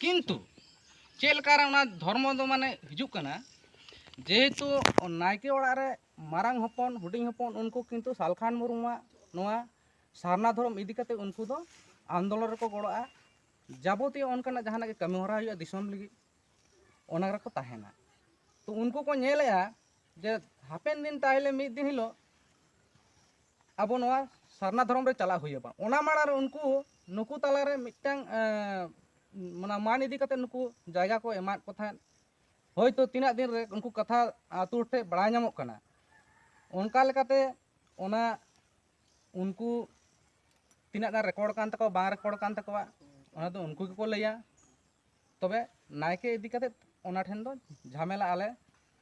ᱠᱤᱱᱛᱩ ᱪᱮᱫ ᱞᱮᱠᱟ ᱨᱮ ᱚᱱᱟ ᱫᱷᱚᱨᱢᱚ ᱫᱚ ᱢᱟᱱᱮ ᱦᱤᱡᱩᱜ ᱠᱟᱱᱟ ᱡᱮᱦᱮᱛᱩ ᱱᱟᱭᱠᱮ ᱚᱲᱟᱜ ᱨᱮ ᱢᱟᱨᱟᱝ ᱦᱚᱯᱚᱱ ᱦᱩᱰᱤᱧ ᱦᱚᱯᱚᱱ ᱩᱱᱠᱩ ᱠᱤᱱᱛᱩ ᱥᱟᱞᱠᱷᱟᱱ ᱢᱩᱨᱢᱩᱣᱟᱜ ᱱᱚᱣᱟ ᱥᱟᱨᱱᱟ ᱫᱷᱚᱨᱚᱢ ᱤᱫᱤ ᱠᱟᱛᱮ ᱩᱱᱠᱩ ᱫᱚ ᱟᱱᱫᱳᱞᱚᱱ ᱨᱮᱠᱚ ᱜᱚᱲᱚᱜᱼᱟ ᱡᱟᱵᱚᱛᱤᱭᱚ ᱚᱱᱠᱟᱱᱟᱜ ᱡᱟᱦᱟᱱᱟᱜ ᱜᱮ ᱠᱟᱹᱢᱤ ᱦᱚᱨᱟ ᱦᱩᱭᱩᱜᱼᱟ ᱫᱤᱥᱚᱢ ᱞᱟᱹᱜᱤᱫ ᱚᱱᱟ ᱨᱮᱠᱚ ᱛᱟᱦᱮᱱᱟ ᱛᱚ ᱩᱱᱠᱩ ᱠᱚ ᱧᱮᱞᱮᱜᱼᱟ ᱡᱮ ᱦᱟᱯᱮᱱ ᱫᱤᱱ ᱛᱟᱦᱚᱞᱮ ᱢᱤᱫ ᱫᱤᱱ ᱦᱤᱞᱳᱜ ᱟᱵᱚ ᱱᱚᱣᱟ ᱥᱟᱨᱱᱟ ᱫᱷᱚᱨᱚᱢ ᱨᱮ ᱪᱟᱞᱟᱜ ᱦᱩᱭ ᱟᱵᱚᱱ ᱚᱱᱟ ᱢᱟᱲᱟᱝ ᱨᱮ ᱩᱱᱠᱩ ᱱᱩᱠᱩ ᱛᱟᱞᱟ ᱨᱮ ᱢᱤᱫᱴᱟᱝ ᱚᱱᱟ ᱢᱟᱱ ᱤᱫᱤ ᱠᱟᱛᱮ ᱱᱩᱠᱩ ᱡᱟᱭᱜᱟ ᱠᱚ ᱮᱢᱟᱫ ᱠᱚ ᱛᱟᱦᱮᱸᱫ ᱦᱳᱭᱛᱳ ᱛᱤᱱᱟᱹᱜ ᱫᱤᱱ ᱨᱮ ᱩᱱᱠᱩ ᱠᱟᱛᱷᱟ ᱟᱛᱳ ᱦᱚᱲ ᱴᱷᱮᱱ ᱵᱟᱲᱟᱭ ᱧᱟᱢᱚᱜ ᱠᱟᱱᱟ ᱚᱱᱠᱟ ᱞᱮᱠᱟᱛᱮ ᱚᱱᱟ ᱩᱱᱠᱩ ᱛᱤᱱᱟᱹᱜ ᱜᱟᱱ ᱨᱮᱠᱚᱨᱰ ᱠᱟᱱ ᱛᱟᱠᱚᱣᱟ ᱵᱟᱝ ᱨᱮᱠᱚᱨᱰ ᱠᱟᱱ ᱛᱟᱠᱚᱣᱟ ᱚᱱᱟ ᱫᱚ ᱩᱱᱠᱩ ᱜᱮᱠᱚ ᱞᱟᱹᱭᱟ ᱛᱚᱵᱮ ᱱᱟᱭᱠᱮ ᱤᱫᱤ ᱠᱟᱛᱮ ᱚᱱᱟ ᱴᱷᱮᱱ ᱫᱚ ᱡᱷᱟᱢᱮᱞᱟ ᱟᱞᱮ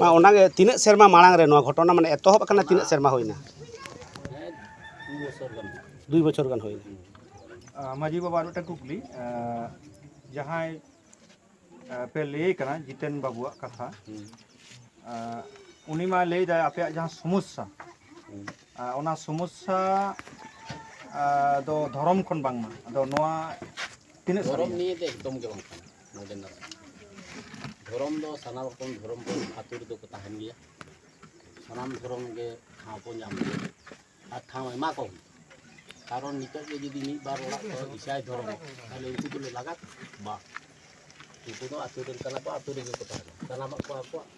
ᱢᱟ ᱚᱱᱟᱜᱮ ᱛᱤᱱᱟᱹᱜ ᱥᱮᱨᱢᱟ ᱢᱟᱲᱟᱝ ᱨᱮ ᱱᱚᱣᱟ ᱜᱷᱚᱴᱚᱱᱟ ᱢᱟᱱᱮ ᱮᱛᱚᱦᱚᱵ ᱟᱠᱟᱱᱟ ᱛᱤᱱᱟᱹᱜ ᱥᱮᱨᱢᱟ ᱦᱩᱭᱱᱟ ᱫᱩᱭ ᱵᱚᱪᱷᱚᱨ ᱜᱟᱱ ᱦᱩᱭᱱᱟ ᱢᱟᱹᱡᱷᱤ ᱵᱟᱵᱟ ᱟᱨ ᱢᱤᱫᱴᱟᱝ ᱠᱩᱠᱞᱤ ᱡᱟᱦᱟᱸᱭ ᱯᱮ ᱞᱟᱹᱭ ᱠᱟᱱᱟ ᱡᱤᱛᱮᱱ ᱵᱟᱵᱩᱣᱟᱜ ᱠᱟᱛᱷᱟ ᱩᱱᱤ ᱢᱟ ᱞᱟᱹᱭ ᱫᱟᱭ ᱟᱯᱮᱭᱟᱜ ᱡᱟᱦᱟᱸ ᱥᱚᱢᱚᱥᱥᱟ ᱚᱱᱟ ᱥᱚᱢᱚᱥᱥᱟ ᱫᱚ ᱫᱷᱚᱨᱚᱢ ᱠᱷᱚᱱ ᱵᱟᱝᱢᱟ ᱟᱫᱚ ᱱᱚᱣᱟ ᱛᱤᱱᱟᱹᱜ ᱫᱷᱚᱨᱚᱢ ᱱᱤᱭᱮ ᱫᱚ ᱮᱠᱫᱚᱢ ᱜᱮ ᱵᱟᱝ ᱠᱟᱱᱟ ᱱᱚᱰᱮᱱᱟᱜ ᱫᱷᱚᱨᱚᱢ ᱫᱚ ᱥᱟᱱᱟᱢ ᱨᱚᱠᱚᱢ ᱫᱷᱚᱨᱚᱢ ᱫᱚ ᱟᱛᱳ ᱨᱮᱫᱚ ᱠᱚ ᱛᱟᱦᱮᱱ ᱜᱮᱭᱟ ᱥᱟᱱᱟᱢ ᱫᱷᱚᱨᱚᱢ ᱜᱮ ᱴᱷᱟᱶ ᱠᱚ ᱧᱟᱢ ᱜᱮᱭᱟ ᱟᱨ ᱴᱷᱟᱶ ᱮᱢᱟ ᱠᱚ ᱦᱩᱭᱩᱜᱼᱟ ᱠᱟᱨᱚᱱ ᱱᱤᱛᱚᱜ ᱜᱮ ᱡᱩᱫᱤ ᱢᱤᱫ ᱵᱟᱨ ᱚᱲᱟᱜ ᱠᱚ ᱤᱥᱟᱭ ᱫᱷᱚᱨᱚᱢ ᱛᱟᱦᱚᱞᱮ ᱩᱱᱠᱩ ᱫᱚᱞᱮ ᱞᱟᱜᱟ ᱵᱟᱝ ᱩᱱᱠᱩ ᱫᱚ ᱟᱹᱛᱩ ᱨᱮᱱ ᱠᱟᱱᱟ ᱠᱚ ᱟᱹᱛᱩ ᱨᱮᱜᱮ ᱠᱚ ᱛᱟᱦᱮᱱᱟ ᱥᱟᱱᱟᱢᱟᱜ ᱠᱚ ᱟᱠᱚᱣᱟᱜ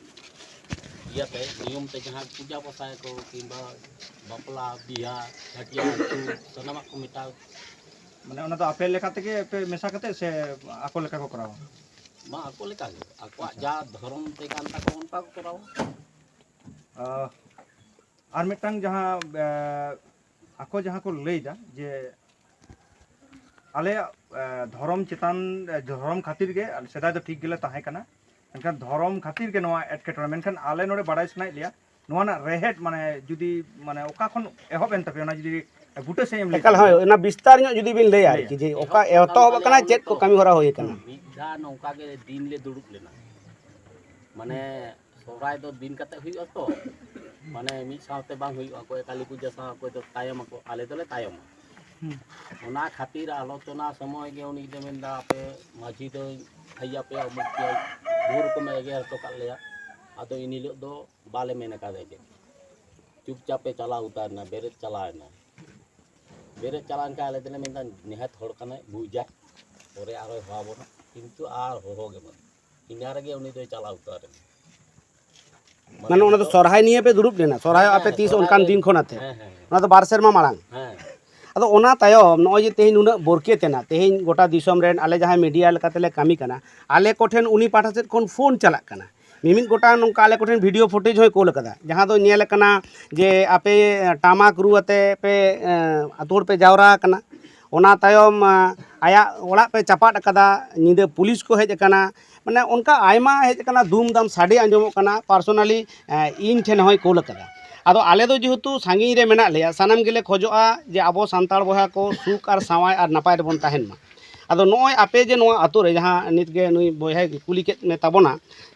ᱤᱭᱟᱹᱛᱮ ᱱᱤᱭᱚᱢ ᱛᱮ ᱡᱟᱦᱟᱸ ᱯᱩᱡᱟ ᱯᱟᱥᱟᱭᱟᱠᱚ ᱠᱤᱝᱵᱟ ᱵᱟᱯᱞᱟ ᱵᱤᱦᱟ ᱪᱷᱟᱹᱴᱭᱟᱹᱨ ᱪᱷᱩᱛ ᱥᱟᱱᱟᱢᱟᱜ ᱠᱚ ᱢᱮᱴᱟᱣ ᱢᱟᱱᱮ ᱚᱱᱟ ᱫᱚ ᱟᱯᱮ ᱞᱮᱠᱟ ᱛᱮᱜᱮ ᱯᱮ ᱢᱮᱥᱟ ᱠᱟᱛᱮ ᱥᱮ ᱟᱠᱚ ᱞᱮᱠᱟ ᱠᱚ ᱠᱚᱨᱟᱣᱟ ᱢᱟ ᱟᱠᱚ ᱞᱮᱠᱟᱜᱮ ᱟᱠᱚᱣᱟᱜ ᱡᱟ ᱫᱷᱚᱨᱚᱢ ᱛᱮ ᱠᱟᱱ ᱛᱟᱠᱚ ᱚᱱᱠᱟ ᱠᱚ ᱠᱚᱨᱟᱣᱟ ᱟᱨ ᱢᱤᱫᱴᱟᱝ ᱡᱟᱦᱟᱸ ᱟᱠᱚ ᱡᱟᱦᱟᱸ ᱠᱚ ᱞᱟᱹᱭ ᱮᱫᱟ ᱡᱮ ᱟᱞᱮᱭᱟᱜ ᱫᱷᱚᱨᱚᱢ ᱪᱮᱛᱟᱱ ᱫᱷᱚᱨᱚᱢ ᱠᱷᱟᱹᱛᱤᱨ ᱜᱮ ᱥᱮᱫᱟᱭ ᱫᱚ ᱴᱷᱤᱠ ᱜᱮᱞᱮ ᱛᱟᱦᱮᱸ ᱠᱟᱱᱟ ᱢᱮᱱᱠᱷᱟᱱ ᱫᱷᱚᱨᱚᱢ ᱠᱷᱟᱹᱛᱤᱨ ᱜᱮ ᱱᱚᱣᱟ ᱮᱴᱠᱮᱴᱚᱬᱮ ᱢᱮᱱᱠᱷᱟᱱ ᱟᱞᱮ ᱱᱚᱰᱮ ᱵᱟᱰᱟᱭ ᱥᱟᱱᱟᱭᱮᱫ ᱞᱮᱭᱟ ᱱᱚᱣᱟ ᱨᱮᱱᱟᱜ ᱨᱮᱦᱮᱫ ᱢᱟᱱᱮ ᱡᱩᱫᱤ ᱢᱟᱱᱮ ᱚᱠᱟ ᱠᱷᱚᱱ ᱮᱦᱚᱵ ᱮᱱ ᱛᱟᱯᱮ ᱚᱱᱟ ᱡᱩᱫᱤ ᱵᱩᱴᱟᱹ ᱥᱮᱫ ᱮᱢ ᱞᱟᱹᱭ ᱮᱠᱟᱞ ᱦᱳᱭ ᱚᱱᱟ ᱵᱤᱥᱛᱟᱨ ᱧᱚᱜ ᱡᱩᱫᱤ ᱵᱤᱱ ᱞᱟᱹᱭᱟ ᱟᱨᱠᱤ ᱡᱮ ᱚᱠᱟ ᱮᱛᱚᱦᱚᱵ ᱟᱠᱟᱱᱟ ᱪᱮᱫ ᱠᱚ ᱠᱟᱹᱢᱤ ᱦᱚᱨᱟ ᱦᱩᱭ ᱟᱠᱟᱱᱟ ᱢᱤᱫ ᱫᱷᱟᱣ ᱱᱚᱝᱠᱟ ᱜᱮ ᱫᱤᱱ ᱞᱮ ᱫᱩᱲᱩᱵ ᱞᱮᱱᱟ ᱢᱟᱱᱮ ᱥᱚᱦᱨᱟᱭ ᱫᱚ ᱫᱤᱱ ᱠᱟᱛᱮ ᱦᱩᱭᱩᱜᱼᱟ ᱛᱚ ᱢᱟᱱᱮ ᱢᱤᱫ ᱥᱟᱶᱛᱮ ᱵᱟᱝ ᱦᱩᱭᱩᱜᱼᱟ ᱚᱠᱚᱭ ᱠᱟᱹᱞᱤ ᱯᱩᱡᱟᱹ ᱥᱟᱶ ᱚᱠᱚᱭ ᱫᱚ ᱛᱟᱭᱚᱢ ᱟᱠᱚ ᱟᱞᱮ ᱫᱚᱞᱮ ᱛᱟᱭᱚᱢᱟ ᱚᱱᱟ ᱠᱷᱟᱹᱛᱤᱨ ᱟᱞᱳᱪᱚᱱᱟ ᱥᱚᱢᱚᱭ ᱜᱮ ᱩᱱᱤ ᱫᱚ ᱢᱮᱱᱫᱟ ᱟᱯᱮ ᱢᱟᱹᱡᱷᱤ ᱫᱚ ᱦᱮᱡ ᱟᱯᱮᱭᱟ ᱩᱢᱩᱠ ᱯᱮᱭᱟ ᱵᱩᱨ ᱨᱚᱠᱚᱢᱮ ᱮᱜᱮᱨ ᱦᱚᱴᱚ ᱠᱟᱜ ᱞᱮᱭᱟ ᱟᱫᱚ ᱤᱱ ᱦᱤᱞᱳᱜ ᱫᱚ ᱵᱟᱞᱮ ᱢᱮᱱ ᱟᱠᱟᱫᱟ ᱪᱮᱫ ᱪᱩᱯᱪᱟᱯᱮ ᱪᱟᱞᱟᱣ ᱩᱛᱟᱹᱨᱱᱟ ᱵᱮᱨᱮᱫ ᱪᱟᱞᱟᱣᱮᱱᱟ ᱵᱮᱨᱮᱫ ᱪᱟᱞᱟᱣᱮᱱ ᱠᱷᱟᱱ ᱟᱞᱮ ᱫᱚᱞᱮ ᱢᱮᱱᱫᱟ ᱱᱤᱦᱟᱹᱛ ᱦᱚᱲ ᱠᱟᱱᱟᱭ ᱵᱩᱡᱟ ᱯᱚᱨᱮ ᱟᱨᱚᱭ ᱦᱚᱦᱚ ᱟᱵᱚᱱᱟ ᱠᱤᱱᱛᱩ ᱟᱨ ᱦᱚᱦᱚ ᱜᱮ ᱵᱟᱹᱱᱩᱜ ᱤᱱᱟᱹ ᱨᱮᱜᱮ ᱩᱱᱤ ᱫᱚᱭ ᱪᱟᱞᱟᱣ ᱩᱛᱟᱹᱨ ᱮᱱᱟ ᱢᱟᱱᱮ ᱚᱱᱟ ᱫᱚ ᱥᱚᱨᱦᱟᱭ ᱱᱤᱭᱮ ᱯᱮ ᱫᱩᱲᱩᱵ ᱞᱮᱱᱟ ᱥᱚᱨᱦᱟᱭ ᱟᱯᱮ ᱛᱤᱥ ᱚᱱᱠᱟᱱ ᱫᱤᱱ ᱠᱷᱚᱱ ᱟᱛᱮ ᱦᱮᱸ ᱦᱮᱸ ᱚᱱᱟ ᱫᱚ ᱵᱟᱨ ᱥᱮᱨᱢᱟ ᱢᱟᱲᱟᱝ ᱦᱮᱸ ᱟᱫᱚ ᱚᱱᱟ ᱛᱟᱭᱚᱢ ᱱᱚᱜᱼᱚᱭ ᱡᱮ ᱛᱮᱦᱮᱧ ᱱᱩᱱᱟᱹᱜ ᱵᱚᱨᱠᱮᱛ ᱮᱱᱟ ᱛᱮᱦᱮᱧ ᱜᱚᱴᱟ ᱫᱤᱥᱚᱢ ᱨᱮᱱ ᱟᱞᱮ ᱡᱟᱦᱟᱸᱭ ᱢᱤᱰᱤᱭᱟ ᱞᱮᱠᱟᱛᱮᱞᱮ ᱠᱟᱹᱢᱤ ᱠᱟᱱᱟ ᱟᱞᱮ ᱠᱚᱴᱷᱮᱱ ᱩᱱᱤ ᱯᱟᱦᱴᱟ ᱥᱮᱫ ᱠᱷᱚᱱ ᱯᱷᱳᱱ ᱪᱟᱞᱟᱜ ᱠᱟᱱᱟ ᱢᱤᱢᱤᱫ ᱜᱚᱴᱟᱝ ᱱᱚᱝᱠᱟ ᱟᱞᱮ ᱠᱚᱴᱷᱮᱱ ᱵᱷᱤᱰᱤᱭᱳ ᱯᱷᱩᱴᱮᱡᱽ ᱦᱚᱸᱭ ᱠᱳᱞ ᱟᱠᱟᱫᱟ ᱡᱟᱦᱟᱸ ᱫᱚ ᱧᱮᱞ ᱟᱠᱟᱱᱟ ᱡᱮ ᱟᱯᱮ ᱴᱟᱢᱟᱠ ᱨᱩ ᱟᱛᱮ ᱯᱮ ᱟᱛᱳ ᱦᱚᱲ ᱯᱮ ᱡᱟᱣᱨᱟ ᱟᱠᱟᱱᱟ ᱚᱱᱟ ᱛᱟᱭᱚᱢ ᱟᱭᱟᱜ ᱚᱲᱟᱜ ᱯᱮ ᱪᱟᱯᱟᱫ ᱟᱠᱟᱫᱟ ᱧᱤᱫᱟᱹ ᱯᱩᱞᱤᱥ ᱠᱚ ᱦᱮᱡ ᱟᱠᱟᱱᱟ ᱢᱟᱱᱮ ᱚᱱᱠᱟ ᱟᱭᱢᱟ ᱦᱮᱡ ᱟᱠᱟᱱᱟ ᱫᱩᱢ ᱫᱟᱢ ᱥᱟᱰᱮ ᱟᱸᱡᱚᱢᱚᱜ ᱠᱟᱱᱟ ᱯᱟᱨᱥᱳᱱᱟᱞᱤ ᱤᱧ ᱴᱷᱮᱱ ᱦᱚᱸᱭ ᱠᱳᱞ ᱟᱠᱟᱫᱟ ᱟᱫᱚ ᱟᱞᱮ ᱫᱚ ᱡᱮᱦᱮᱛᱩ ᱥᱟᱺᱜᱤᱧ ᱨᱮ ᱢᱮᱱᱟᱜ ᱞᱮᱭᱟ ᱥᱟᱱᱟᱢ ᱜᱮᱞᱮ ᱠᱷᱚᱡᱚᱜᱼᱟ ᱡᱮ ᱟᱵᱚ ᱥᱟᱱᱛᱟᱲ ᱵᱚᱭᱦᱟ ᱠᱚ ᱥᱩᱠ ᱟᱨ ᱥᱟᱶᱟᱭ ᱟᱨ ᱱᱟᱯᱟᱭ ᱨᱮᱵᱚᱱ ᱛᱟᱦᱮᱱ ᱢᱟ ᱟᱫᱚ ᱱᱚᱜᱼᱚᱭ ᱟᱯᱮ ᱡᱮ ᱱᱚᱣᱟ ᱟᱹᱛᱩ ᱨᱮ ᱡᱟᱦᱟᱸ ᱱᱤᱛ ᱜᱮ ᱱᱩᱭ ᱵᱚᱭᱦᱟᱭ ᱠᱩᱞᱤ ᱠᱮᱫ ᱢᱮ ᱛᱟᱵᱚᱱᱟ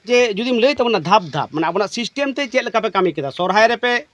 ᱡᱮ ᱡᱩᱫᱤᱢ ᱞᱟᱹᱭ ᱛᱟᱵᱚᱱᱟ ᱫᱷᱟᱯ ᱫᱷᱟᱯ ᱢᱟᱱᱮ ᱟᱵᱚᱱᱟᱜ ᱥᱤᱥᱴᱮᱢ ᱛᱮ ᱪᱮᱫ ᱞᱮᱠᱟ ᱯᱮ ᱠᱟᱹᱢᱤ ᱠᱮᱫᱟ ᱥᱚᱨᱦᱟᱭ ᱨᱮᱯᱮ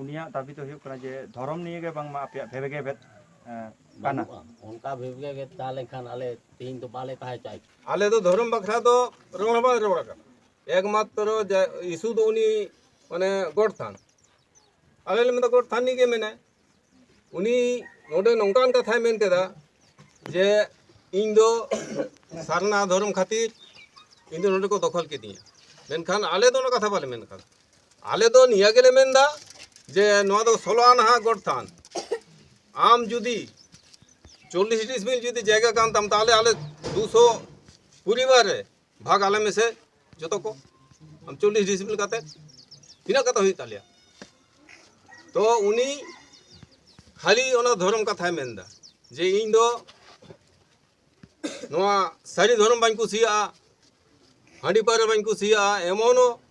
ᱩᱱᱤᱭᱟᱜ ᱫᱟᱵᱤ ᱫᱚ ᱦᱩᱭᱩᱜ ᱠᱟᱱᱟ ᱡᱮ ᱫᱷᱚᱨᱚᱢ ᱱᱤᱭᱮ ᱜᱮ ᱵᱟᱝᱢᱟ ᱟᱯᱮᱭᱟᱜ ᱵᱷᱮᱵᱮᱜᱮᱵᱮᱫ ᱠᱟᱱᱟ ᱚᱱᱠᱟ ᱵᱷᱮᱵᱮᱜᱮᱵᱮᱫ ᱛᱟᱦᱮᱸ ᱞᱮᱱᱠᱷᱟᱱ ᱟᱞᱮ ᱛᱮᱦᱮᱧ ᱫᱚ ᱵᱟᱞᱮ ᱛᱟᱦᱮᱸ ᱪᱟᱭ ᱟᱞᱮ ᱫᱚ ᱫᱷᱚᱨᱚᱢ ᱵᱟᱠᱷᱨᱟ ᱫᱚ ᱨᱚᱲ ᱦᱚᱸ ᱵᱟᱝ ᱨᱚᱲ ᱟᱠᱟᱱᱟ ᱮᱠᱢᱟᱛᱨᱚ ᱤᱥᱩ ᱫᱚ ᱩᱱᱤ ᱢᱟᱱᱮ ᱜᱚᱰ ᱛᱷᱟᱱ ᱟᱞᱮ ᱞᱮ ᱢᱮᱱᱫᱟ ᱜᱚᱰ ᱛᱷᱟᱱ ᱨᱤᱱᱤᱡ ᱜᱮ ᱢᱮᱱᱟᱭ ᱩᱱᱤ ᱱᱚᱰᱮ ᱱᱚᱝᱠᱟᱱ ᱠᱟᱛᱷᱟᱭ ᱢᱮᱱ ᱠᱮᱫᱟ ᱡᱮ ᱤᱧ ᱫᱚ ᱥᱟᱨᱱᱟ ᱫᱷᱚᱨᱚᱢ ᱠᱷᱟᱹᱛᱤᱨ ᱤᱧ ᱫᱚ ᱱᱚᱰᱮ ᱠᱚ ᱫᱚᱠᱷᱚᱞ ᱠᱤᱫᱤᱧᱟ ᱢᱮᱱᱠᱷᱟᱱ ᱟᱞᱮ ᱫᱚ ᱚᱱᱟ ᱠᱟᱛᱷᱟ ᱵᱟᱞᱮ ᱢᱮᱱ ᱠᱟᱫᱟ ᱟᱞᱮ ᱫᱚ ᱱᱤᱭᱟᱹ ᱜᱮᱞᱮ ᱢᱮᱱᱫᱟ ᱡᱮ ᱱᱚᱣᱟ ᱫᱚ ᱥᱳᱞᱳ ᱟᱱᱟᱦᱟ ᱜᱚᱰ ᱛᱷᱟᱱ ᱟᱢ ᱡᱩᱫᱤ ᱪᱚᱞᱞᱤᱥ ᱰᱤᱥᱢᱤᱞ ᱡᱩᱫᱤ ᱡᱟᱭᱜᱟ ᱠᱟᱱ ᱛᱟᱢ ᱛᱟᱦᱚᱞᱮ ᱟᱞᱮ ᱫᱩᱥᱚ ᱯᱚᱨᱤᱵᱟᱨ ᱨᱮ ᱵᱷᱟᱜᱽ ᱟᱞᱮ ᱢᱮᱥᱮ ᱡᱚᱛᱚ ᱠᱚ ᱟᱢ ᱪᱚᱞᱞᱤᱥ ᱰᱤᱥᱤᱯᱞᱤᱱ ᱠᱟᱛᱮ ᱛᱤᱱᱟᱹᱜ ᱠᱟᱛᱮ ᱦᱩᱭᱩᱜ ᱛᱟᱞᱮᱭᱟ ᱛᱚ ᱩᱱᱤ ᱠᱷᱟᱹᱞᱤ ᱚᱱᱟ ᱫᱷᱚᱨᱚᱢ ᱠᱟᱛᱷᱟᱭ ᱢᱮᱱᱫᱟ ᱡᱮ ᱤᱧ ᱫᱚ ᱱᱚᱣᱟ ᱥᱟᱹᱨᱤ ᱫᱷᱚᱨᱚᱢ ᱵᱟᱹᱧ ᱠᱩᱥᱤᱭᱟᱜᱼᱟ ᱦᱟᱺᱰᱤ ᱯᱟᱹᱣᱨᱟᱹ ᱵᱟᱹᱧ ᱠᱩᱥᱤᱭᱟᱜᱼᱟ ᱮᱢᱚᱱᱚ